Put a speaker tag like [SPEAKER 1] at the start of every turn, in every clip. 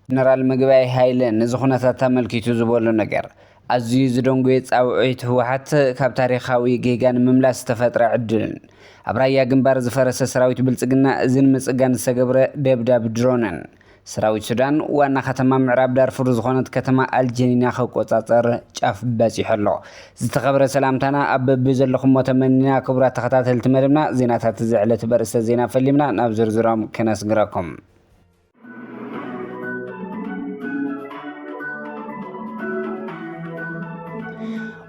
[SPEAKER 1] ጀነራል ምግበይ ሃይለ ነዚ ኩነታት ኣመልኪቱ ዝበሎ ነገር ኣዝዩ ዝደንጎየ ጻውዒት ህወሓት ካብ ታሪኻዊ ጌጋ ንምምላስ ዝተፈጥረ ዕድልን ኣብ ራያ ግንባር ዝፈረሰ ሰራዊት ብልጽግና እዝን ምጽጋን ዝተገብረ ደብዳብ ድሮንን ሰራዊት ሱዳን ዋና ከተማ ምዕራብ ዳርፉር ዝኾነት ከተማ ኣልጀኒና ክቆጻጸር ጫፍ በጺሑ ኣሎ። ዝተኸብረ ሰላምታና ኣብ በብዘለኹሞ ተመኒና ክቡራት ተኸታተልቲ መደብና ዜናታት እዚ ዕለት በርእስተ ዜና ፈሊምና ናብ ዝርዝሮም ከነስግረኩም።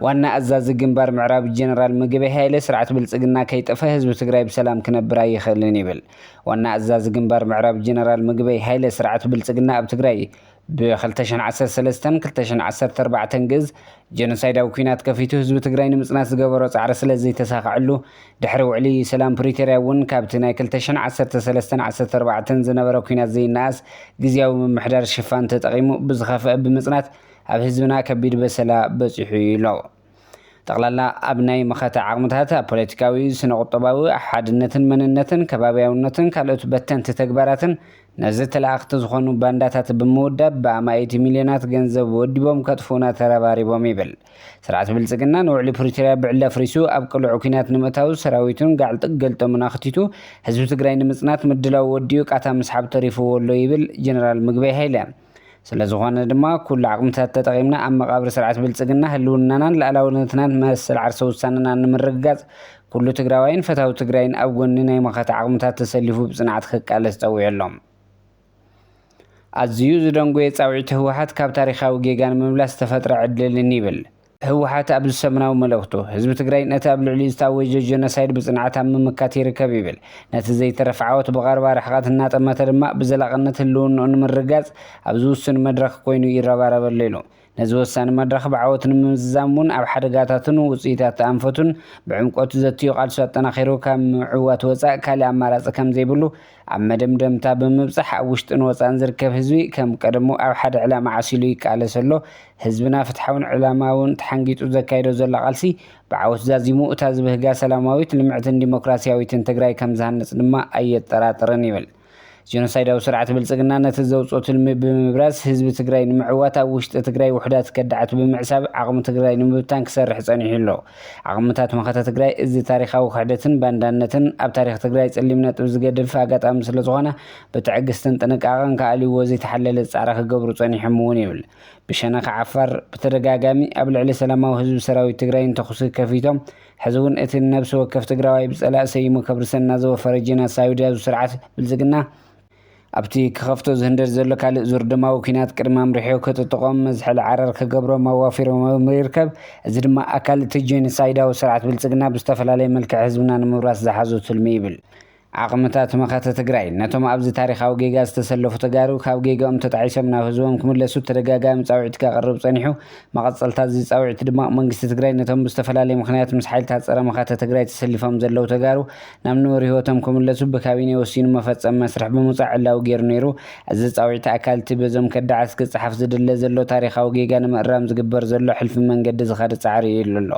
[SPEAKER 1] ዋና ኣዛዚ ግንባር ምዕራብ ጀነራል ምግበይ ሃይለ ስርዓት ብልጽግና ከይጠፈ ህዝቢ ትግራይ ብሰላም ክነብር ኣይኽእልን ይብል። ዋና ኣዛዚ ግንባር ምዕራብ ጀነራል ምግበይ ሃይለ ስርዓት ብልፅግና ኣብ ትግራይ ብ ክልተ ሽሕን ዓሰርተ ሰለስተን ክልተ ሽሕን ዓሰርተ ኣርባዕተን ግእዝ ጀኖሳይዳዊ ኲናት ከፊቱ ህዝቢ ትግራይ ንምፅናት ዝገበሮ ፃዕሪ ስለዘይተሳኸዐሉ ድሕሪ ውዕሊ ሰላም ፕሪቶርያ እውን ካብቲ ናይ ክልተ ሽሕን ዓሰርተ ሰለስተን ዓሰርተ ኣርባዕተን ዝነበረ ኲናት ዘይነኣስ ግዝያዊ ምምሕዳር ሽፋን ተጠቒሙ ብዝኸፍአ ብምፅናት ኣብ ህዝብና ከቢድ በሰላ በፂሑ እዩ ኢሎ። ጠቕላላ ኣብ ናይ መኸተ ዓቕምታት፣ ኣብ ፖለቲካዊ፣ ስነ-ቁጠባዊ፣ ሓድነትን መንነትን፣ ከባብያውነትን ካልኦት በተንቲ ተግባራትን ነዚ ተለኣኽቲ ዝኾኑ ባንዳታት ብምውዳብ ብኣማኢቲ ሚልዮናት ገንዘብ ወዲቦም ከጥፍኡና ተረባሪቦም ይብል። ስርዓት ብልጽግና ንውዕሊ ፕሪቶርያ ብዕሊ ኣፍሪሱ ኣብ ቅሉዕ ኲናት ንምእታው ሰራዊቱን ጋዕልጥግ ገልጠሙን ኣኽቲቱ ህዝቢ ትግራይ ንምጽናት ምድላዉ ወዲኡ ቃታ ምስሓብ ተሪፉዎ'ሎ ይብል ጀነራል ምግበይ ሃይለ። ስለዝኾነ ድማ ኩሉ ዓቕምታት ተጠቒምና ኣብ መቓብር ስርዓት ብልፅግና ህልውናናን ልኣላውነትናን መሰል ዓርሰ ውሳነናን ንምርግጋፅ ኩሉ ትግራዋይን ፈታዊ ትግራይን ኣብ ጎኒ ናይ መኸተ ዓቕምታት ተሰሊፉ ብፅንዓት ክቃለስ ፀዊዑ ኣሎ። ኣዚዩ ዝደንጎየ ፃውዒት ህወሓት ካብ ታሪኻዊ ጌጋ ንምምላስ ዝተፈጥረ ዕድልን ይብል ህወሓት ኣብ ሰሙናዊ መልእኽቱ፣ ህዝቢ ትግራይ ነቲ ኣብ ልዕሊኡ ዝታወጀ ጀኖሳይድ ብፅንዓት ኣብ ምምካት ይርከብ ይብል። ነቲ ዘይተረፍ ዓወት ብቐረባ ርሕቐት እናጠመተ ድማ ብዘላቕነት ህልውንኡ ንምርግጋፅ ኣብ ዝውስን መድረኽ ኮይኑ ይረባረብ ኣሎ ኢሉ። ነዚ ወሳኒ መድረኽ ብዓወት ንምምዝዛም እውን ኣብ ሓደጋታቱን ውፅኢታት ኣንፈቱን ብዕምቆት ዘትዩ ቃልሱ ኣጠናኺሩ ካብ ምዕዋት ወፃእ ካሊእ ኣማራፂ ከምዘይብሉ ኣብ መደምደምታ ብምብጻሕ ኣብ ውሽጥን ወጻእን ዝርከብ ህዝቢ ከም ቀደሙ ኣብ ሓደ ዕላማ ዓሲሉ ይቃለስ ኣሎ። ህዝብና ፍትሓውን ዕላማውን ተሓንጊጡ ዘካይዶ ዘሎ ቃልሲ ብዓወት ዛዚሙ እታ ዝብህጋ ሰላማዊት፣ ልምዕትን ዲሞክራሲያዊትን ትግራይ ከም ዝሃንጽ ድማ ኣየጠራጥርን ይብል። ጀኖሳይዳዊ ስርዓት ብልጽግና ነቲ ዘውጽኦ ትልሚ ብምብራዝ ህዝቢ ትግራይ ንምዕዋት ኣብ ውሽጢ ትግራይ ውሑዳት ከዳዓት ብምዕሳብ ዓቕሚ ትግራይ ንምብታን ክሰርሕ ጸኒሑ ኣሎ። ዓቕምታት መኸተ ትግራይ እዚ ታሪኻዊ ክሕደትን ባንዳነትን ኣብ ታሪኽ ትግራይ ፀሊም ነጥቢ ዝገድፍ ኣጋጣሚ ስለዝኾነ ብትዕግስትን ጥንቃቐን ክኣልይዎ ዘይተሓለለ ፃዕሪ ክገብሩ ፀኒሖም እውን ይብል ብሸነኽ ዓፋር ብተደጋጋሚ ኣብ ልዕሊ ሰላማዊ ህዝቢ ሰራዊት ትግራይን ተኹሲ ከፊቶም ሕዚ እውን እቲ ንነብሲ ወከፍ ትግራዋይ ብፀላእ ሰይሙ ከብርሰና ዝወፈረ ጄናሳዊድያዙ ስርዓት ብልፅግና ኣብቲ ክኸፍቶ ዝህንደድ ዘሎ ካልእ ዙር ደማዊ ኲናት ቅድሚ ኣምሪሑ ክጥጥቖም መዝሐሊ ዓረር ክገብሮም ኣዋፊሮምዎም ይርከብ። እዚ ድማ ኣካል እቲ ጄኖሳይዳዊ ስርዓት ብልፅግና ብዝተፈላለየ መልክዕ ህዝብና ንምውራስ ዝሓዞ ትልሚ ይብል። ዓቕምታት መኸተ ትግራይ ነቶም ኣብዚ ታሪኻዊ ጌጋ ዝተሰለፉ ተጋሩ ካብ ጌገኦም ተጣዒሶም ናብ ህዝቦም ክምለሱ ተደጋጋሚ ፃውዒት ከቕርብ ፀኒሑ። መቐፀልታ እዚ ፃውዒት ድማ መንግስቲ ትግራይ ነቶም ብዝተፈላለየ ምኽንያት ምስ ሓይልታት ፀረ መኸተ ትግራይ ተሰሊፎም ዘለው ተጋሩ ናብ ንቡር ህይወቶም ክምለሱ ብካቢኔ ወሲኑ መፈጸሚ መስርሕ ብምውጻእ ዕላዊ ገይሩ ነይሩ። እዚ ጻውዒት ኣካል እቲ በዞም ከዳዓት ክጸሓፍ ዝድለ ዘሎ ታሪኻዊ ጌጋ ንምእራም ዝግበር ዘሎ ሕልፊ መንገዲ ዝኸደ ጻዕሪ እዩ ኢሉ ኣሎ።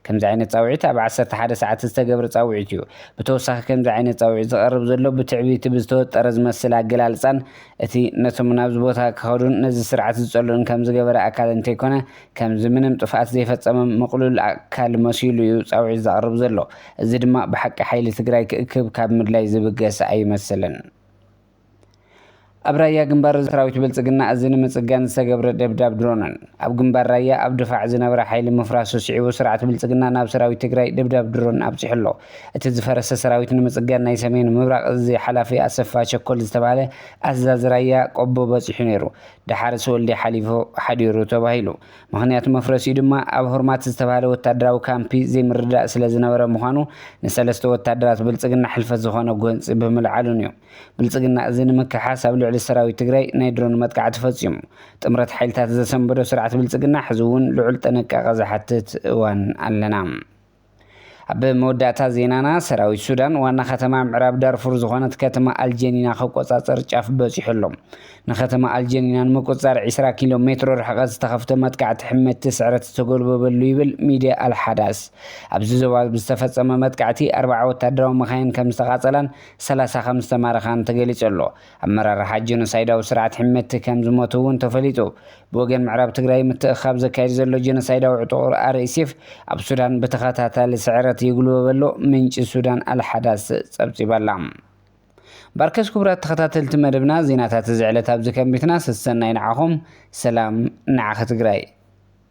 [SPEAKER 1] ከምዚ ዓይነት ጻውዒት ኣብ ዓሰርተ ሓደ ሰዓት ዝተገብረ ጻውዒት እዩ። ብተወሳኺ ከምዚ ዓይነት ጻውዒት ዝቐርብ ዘሎ ብትዕቢቲ ብዝተወጠረ ዝመስል ኣገላልጻን እቲ ነቶም ናብዚ ቦታ ክኸዱን ነዚ ስርዓት ዝጸልኡን ከም ዝገበረ ኣካል እንተይኮነ ከምዚ ምንም ጥፍኣት ዘይፈጸመም ምቕሉል ኣካል መሲሉ እዩ ጻውዒት ዘቕርብ ዘሎ። እዚ ድማ ብሓቂ ሓይሊ ትግራይ ክእክብ ካብ ምድላይ ዝብገስ ኣይመስልን። ኣብ ራያ ግንባር ሰራዊት ብልጽግና እዚ ንምጽጋን ዝተገብረ ደብዳብ ድሮንን ኣብ ግንባር ራያ ኣብ ድፋዕ ዝነበረ ሓይሊ ምፍራሱ ስዒቡ ስርዓት ብልጽግና ናብ ሰራዊት ትግራይ ደብዳብ ድሮን ኣብጺሑ ኣሎ። እቲ ዝፈረሰ ሰራዊት ንምጽጋን ናይ ሰሜን ምብራቕ እዚ ሓላፊ ኣሰፋ ቸኮል ዝተባህለ ኣዛዚ ራያ ቆቦ በጺሑ ነይሩ። ደሓርስ ወልዲ ሓሊፉ ሓዲሩ ተባሂሉ። ምኽንያት መፍረሲኡ ድማ ኣብ ሆርማት ዝተብሃለ ወታደራዊ ካምፒ ዘይምርድዳእ ስለ ዝነበረ ምዃኑ ንሰለስተ ወታደራት ብልፅግና ሕልፈት ዝኾነ ጎንፂ ብምልዓሉን እዩ። ብልፅግና እዚ ንምክሓስ ኣብ ልዕሊ ሰራዊት ትግራይ ናይ ድሮን መጥቃዕቲ ፈፂሙ። ጥምረት ሓይልታት ዘሰንበዶ ስርዓት ብልፅግና ሕዚ እውን ልዑል ጥንቃቐ ዝሓትት እዋን ኣለና። ኣብ መወዳእታ ዜናና ሰራዊት ሱዳን ዋና ከተማ ምዕራብ ዳርፉር ዝኾነት ከተማ ኣልጀኒና ክቆጻጸር ጫፍ በጺሑ ኣሎ። ንከተማ ኣልጀኒና ንምቁጽጻር ዒስራ ኪሎ ሜትሮ ርሕቀት ዝተኸፍተ መጥቃዕቲ ሕመቲ ስዕረት ዝተጎልበበሉ ይብል ሚድያ ኣልሓዳስ። ኣብዚ ዞባ ብዝተፈጸመ መጥቃዕቲ ኣርብዓ ወታደራዊ መኻይን ከምዝተቓጸላን ሰላሳ ከምዝተማረኻን ተገሊጹ ኣሎ። ኣመራርሓ ጀኖሳይዳዊ ስርዓት ሕመቲ ከም ዝሞቱ እውን ተፈሊጡ። ብወገን ምዕራብ ትግራይ ምትእኽኻብ ዘካይድ ዘሎ ጀኖሳይዳዊ ዕጡቕር RSF ኣብ ሱዳን ብተኸታታሊ ስዕረት ይጉልበበሎ ምንጪ ሱዳን ኣልሓዳስ ጸብጺባ'ላ። ባርከስ ኩቡራት ተኸታተልቲ መደብና ዜናታት እዚ ዕለት ኣብዚ ከንቢትና ሰሰናዩ ንዓኹም ሰላም ንዓኺ ትግራይ።